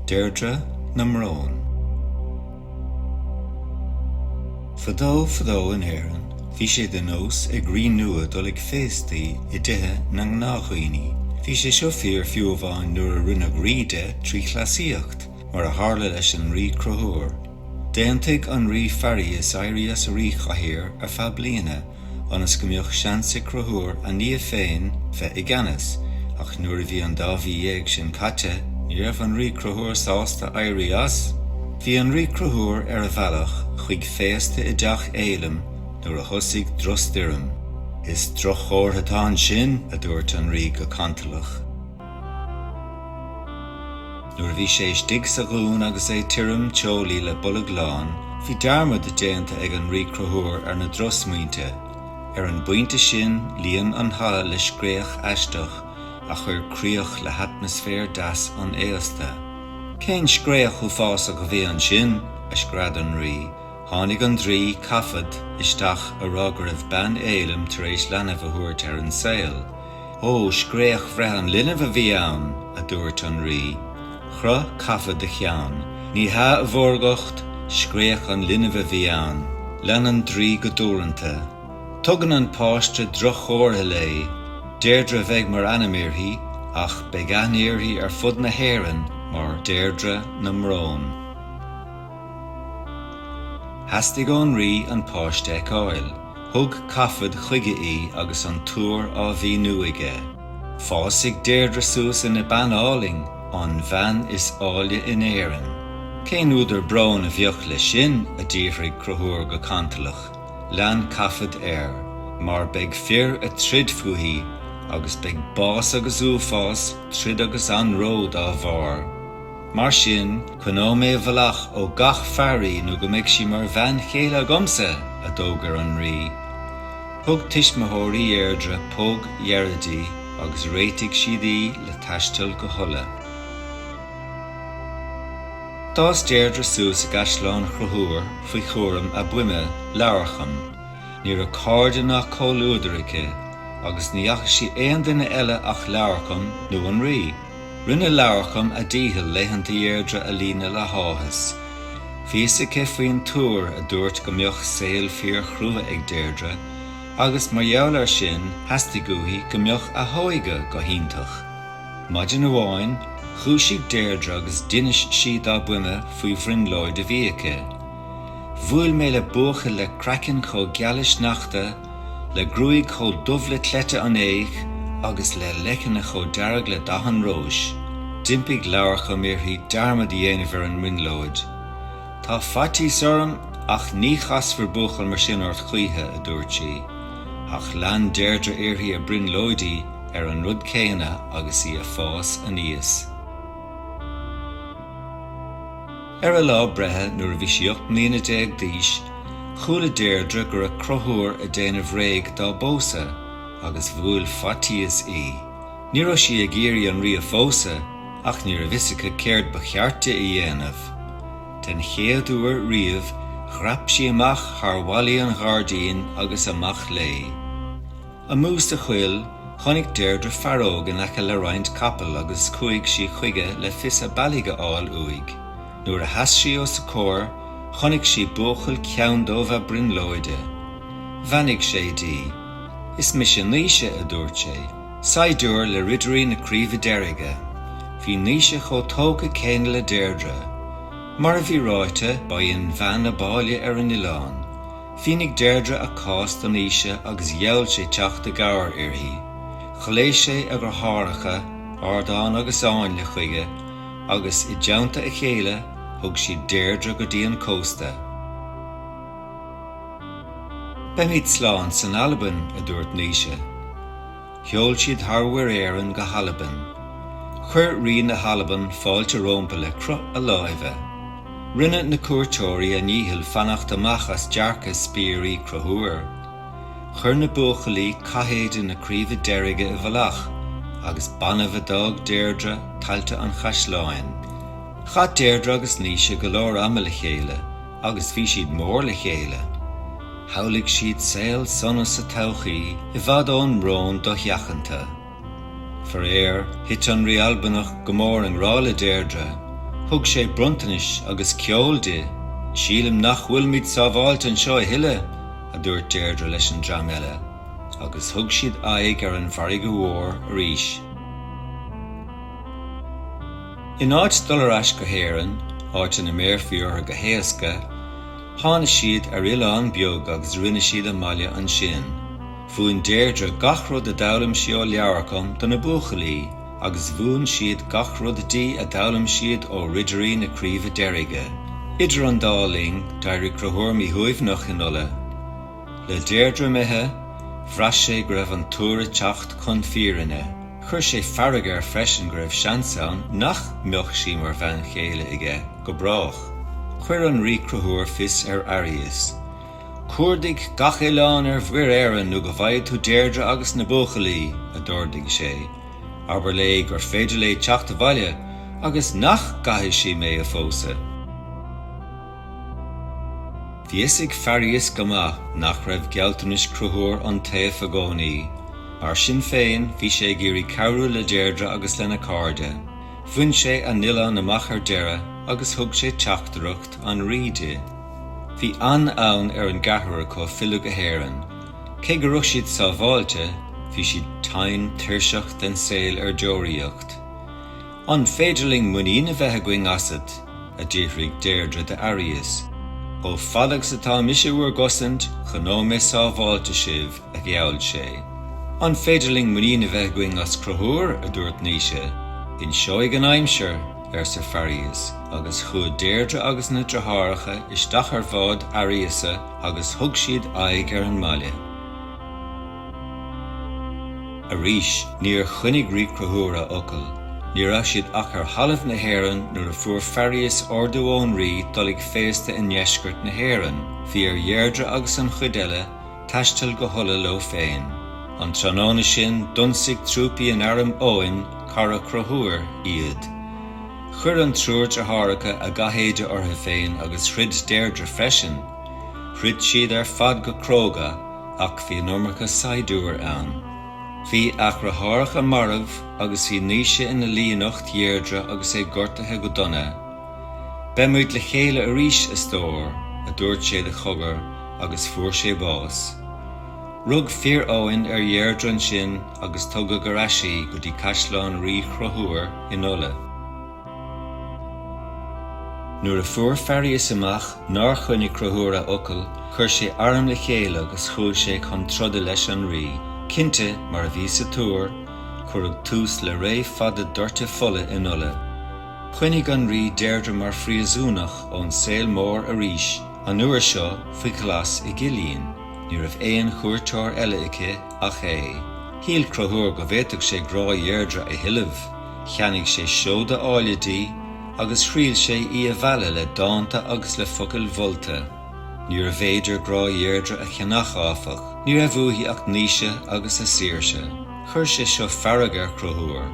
Deirdre na mBrón. Fadó fadó in Éirinn bhí sé de nós ag rí nua dul ag féastaí i dtithe na ngnáthdhaoine. Bhí sé seo fíor fiú amháin nuair a rinneadh rí de trí chleasaíocht. Mar a tharla leis an Rí Cruthúr, d'aontaigh an Rí Fearghas éirí as a ríchathaoir ar feadh bliana ionas go mbeadh seans ag Cruthúr a nia féin bheith i gceannas, ach nuair a bhí an dá mhí dhéag sin caite, ní raibh an Rí Cruthúr sásta éirí as. Bhí an Rí Cruthúr ar a bhealach chuig féasta i dTeach Fhéilim nuair a thosaigh drochstoirm. Is drochchomhartha atá ansin, a dúirt an Rí go cantalach. Nuair a bhí sé istigh sa dún agus é tirim teolaí le bolg lán, bhí dearmad déanta ag an Rí Cruthúr ar na drochsmaointe. Ar an bpointe sin, líon an halla le scréach aisteach a chuir críoch le hatmaisféar deas an fhéasta. Cén scréach uafásach a bhí ansin? a scread an rí. Tháinig an draoi, Cathbhad, isteach, á rá go raibh bean Fhéilim tar éis leanbh a thabhairt ar an saol. Ó, scréach bhreith an linbh a bhí ann! a dúirt an Rí. Chroith Cathbhad a cheann. Ní hea, a Mhórgacht, scréach an linbh a bhí ann. Lean an Draoi go dúranta. Tugann an páiste droch-chomhartha léi. Deirdre a bheidh mar ainm uirthi, ach beidh aithne uirthi ar fud na hÉireann mar Deirdre na mBrón. Theastaigh ón Rí an páiste a fheiceáil. Thug Cathbhad chuige í agus an tuar á mhíniú aige. Fásfaidh Deirdre suas ina bean álainn, an bhean is áille in Éirinn. Cén údar bróin a bheadh leis sin, a d'fhiafraigh Cruthúr go cantalach. Lean Cathbhad air. Mar beidh fir ag troid fúithi, agus beidh bás agus uafás, troid agus anró dá barr. Mar sin, coinneoidh mé i bhfolach ó gach fear í nó go mbeidh sí mar bhean chéile agamsa! a d'fhógair an Rí. Thug tuismitheoirí Dheirdre póg dheiridh di agus réitigh siad í le taisteal go hUlaidh. D'fhás Deirdre suas i gcaisleán Chruthúir faoi chúram a buime, Leabharcham. Ní raibh cairde ná comhluadar aici, agus ní fhaca sí aon duine eile ach Leabharcham nó an Rí. Rinne Leabharcham a dícheall laethanta Dheirdre a líonadh le háthas. Bhí a fhios aici faoin tuar a dúirt go mbeadh saol fíorchrua ag Deirdre, agus mar gheall air sin theastaigh uaithi go mbeadh a hóige go hiontach. Maidin amháin, dhúisigh Deirdre agus d'inis sí dá buime faoi bhrionglóid a bhí aici. Bhuail mé le buachaill le craiceann chomh geal le sneachta, le gruaig chomh dubh le cleite an fhéich agus le leicne chomh dearg le dath an róis. D'impigh Leabharcham uirthi dearmad a dhéanamh ar an mbrionglóid. Tá faitíos orm ach ní chasfar buachaill mar sin ort choíche, a dúirt sí. Ach lean Deirdre uirthi ag brionglóidí ar an rud céanna agus í a' fás aníos. Ar a lá breithe, nuair a bhí sí ocht mbliana déag d'aois, chuala Deirdre go raibh Cruthúr a' déanamh réidh dá bpósadh, agus bhuail faitíos í. Ní raibh sí ag iarraidh an Rí a phósadh, ach ní raibh fhios aici céard ba cheart di a dhéanamh. Den chéad uair riamh, dhreap sí amach thar bhallaí an ghairdín agus amach léi. Amuigh sa choill, chonaic Deirdre fear óg in aice le roinnt capall agus chuaigh sí chuige le fios a bealaigh a fháil uaidh. Nuair a sheas sí os a chomhair, chonaic sí buachaill ceanndubh a brionglóide. Bheannaigh sé di. Is mise Naoise, a dúirt sé. Saighdiúir le Ridirí na Craoibhe Deirge. Bhí Naoise chomh tógtha céanna le Deirdre. Mar a bhí ráite, ba í an bhean ab áille ar an oileán. Mhínigh Deirdre a cás do Naoise agus gheall sé teacht i gcabhair uirthi. Ghlaoigh sé a dheartháireacha, Ardán agus Áinle, chuige agus, i dteannta a chéile, thug siad Deirdre go dtí an cósta. Beimid slán san Albain, a dúirt Naoise. Sheol siad thar Mhuir Éireann go hAlbain. Chuir Rí na hAlban fáilte rómpa le croitheadh láimhe. Rinne na cuairteoirí a ndícheall fanacht amach as dearcadh spiairí Chruthúir. Chuir na buachaillí cathéide na Craoibhe Deirge i bhfolach, agus b'annamh a d'fhág Deirdre tailte an chaisleáin. Chaith Deirdre agus Naoise go leor ama le chéile. Agus bhí siad mór le chéile. Shamhlaigh siad saol sona sa todhchaí, i bhfad ón mbrón dosheachanta. Faraor, thit an Rí Albanach go mór i ngrá le Deirdre. Thug sé bronntanais agus ceol di. Sílim nach bhfuilimid sábháilte anseo a thuilleadh, a dúirt Deirdre leis an dream eile. Agus thug siad aghaidh ar an bhfarraige mhór arís. In áit dul ar ais go hÉirinn, áit ina mbéarfaí orthu go héasca, tháinig siad ar oileán beag agus rinne siad a mbaile ansin. Mhúin Deirdre gach rud a d'fhoghlaim sí ó Leabharcham do na buachaillí agus mhúin siad gach rud di a d'fhoghlaim siad ó Ridirí na Craoibhe Deirge. Idir an dá linn, d'éirigh Cruthúr míshuaimhneach in Ulaidh. Le Deirdre imithe, bhraith sé go raibh an tuar ag teacht chun fírinne. Chuir sé fearg air freisin go raibh seans ann nach mbeadh sí mar bhean chéile aige go brách. Chuir an Rí Conchúr fios ar Fhearghas, Cuardaigh gach oileán ar Mhuir Éireann nó go bhfaighidh tú Deirdre agus na buachaillí, a d'ordaigh sé. Abair léi gur féidir léi teacht abhaile agus nach gcaithfidh sí mé a phósadh. Bhí a fhios ag Fearghas go maith nach raibh gealltanais Chonchúir iontaofa i gcónaí. Mar sin féin, bhí sé ag iarraidh cabhrú le Deirdre agus lena cairde. Bhain sé a n-oileán amach ar deireadh agus thug sé teachtaireacht an Rí di. Bhí an-fhonn ar an gceathrar acu filleadh go hÉirinn. Cé go raibh siad sábháilte, bhí siad tinn tuirseach den saol ar deoraíocht. An féidir linn muinín a bheith againn asat? a d'fhiafraigh Deirdre de Fhearghas. Chomh fada agus atá mise i bhur gcosaint, choinneoidh mé sábháilte sibh, a gheall sé. An féidir linn muinín a bheith againn as Conchúr? a dúirt Naoise. Inseoidh an aimsir, arsa Fearghas, agus chuaigh Deirdre agus na deartháireacha isteach ar bhád Fhearghasa agus thug siad aghaidh ar an mbaile. Arís, níor choinnigh Rí Conchúr a fhocal. Ní raibh siad ach ar thalamh na hÉireann nuair a fuair Fearghas ordú ón Rí dul ag féasta i ndeisceart na hÉireann. Bhí ar Dheirdre agus an chuid eile taisteal go hUlaidh leo féin. An tráthnóna sin, d'ionsaigh trúpaí in arm Eoghain, cara Chonchúir, iad. Chuir an triúr deartháireacha a gcathéide orthu féin agus throid Deirdre freisin. Throid siad ar fad go cróga. Ach bhí an iomarca saighdiúir ann. Bhí a dheartháireacha marbh, agus bhí Naoise ina luí in ucht Dheirdre agus é gortaithe go dona. Beimid le chéile arís, a stór, a dúirt sé de chogar, agus fuair sé bás. Rug fir Eoghain ar Dheirdre ansin agus tugadh ar ais í go dtí caisleán Rí Chonchúir in Ulaidh. Nuair a fuair Fearghas amach nár choinnigh Conchúr a fhocal, chuir sé arm le chéile agus chuaigh sé chun troda leis an rí. Cinnte, mar a bhí sa tuar, cuireadh tús le ré fada doirte fola in Ulaidh. Choinnigh an rí Deirdre mar phríosúnach ón saol mór arís, an uair seo faoi ghlas i gcillín. Ní raibh aon chuairteoir eile aici ach é. Shíl Conchúr go bhféadfadh sé grá Dheirdre a thuilleamh. Cheannaigh sé seoda áille di agus thriail sé í a mhealladh le dánta agus le focail mholta. Níorbh fhéidir grá Dheirdre a cheannach, áfach. Ní raibh uaithi ach Naoise agus a saoirse. Chuir sé seo fearg ar Chonchúr.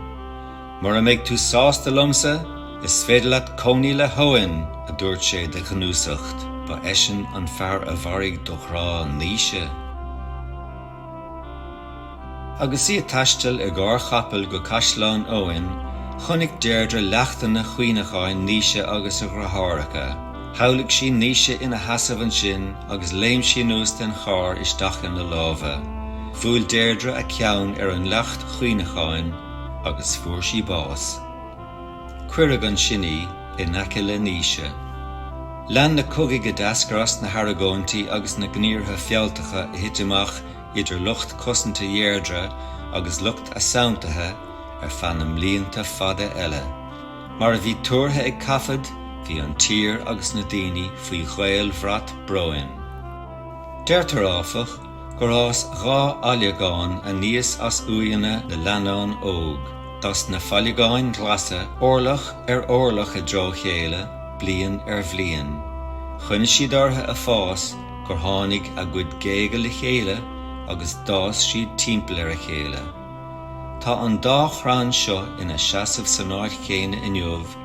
Mura mbeidh tú sásta liomsa, is féidir leat cónaí le hEoin! a dúirt sé de ghnúsacht. Ba eisean an fear a mharaigh do ghrá Naoise. Agus í ag taisteal i gcarr capaill go Caisleán Eoin, chonaic Deirdre leachtanna cuimhneacháin Naoise agus a dhriotháracha. Shamhlaigh sí Naoise ina sheasamh ansin agus léim sí anuas den charr isteach ina lámha. Bhuail Deirdre a ceann ar an leacht chuimhneacháin agus fuair sí bás. Cuireadh ansin í in aice le Naoise. Lean na cogaidh a d'eascair as na hargóintí agus na gníomhartha fealltacha a thit amach idir lucht cosanta Dheirdre agus lucht a santaithe ar feadh na mblianta fada eile. Mar a bhí tuartha ag Cathbhad, bhí an tír agus na daoine faoi dhaolbhrat bróin. Deirtear áfach, gur fhás dhá fhailleagán aníos as uaigheanna na leannán óg. D'fhás na failleagáin ghlasa orlach ar orlach i dtreo a chéile, bliain ar bhliain. Choinnigh siad orthu ag fás gur tháinig a gcuid géaga le chéile agus d'fhás siad timpeall ar a chéile. Tá an dá chrann seo ina seasamh san áit chéanna inniu,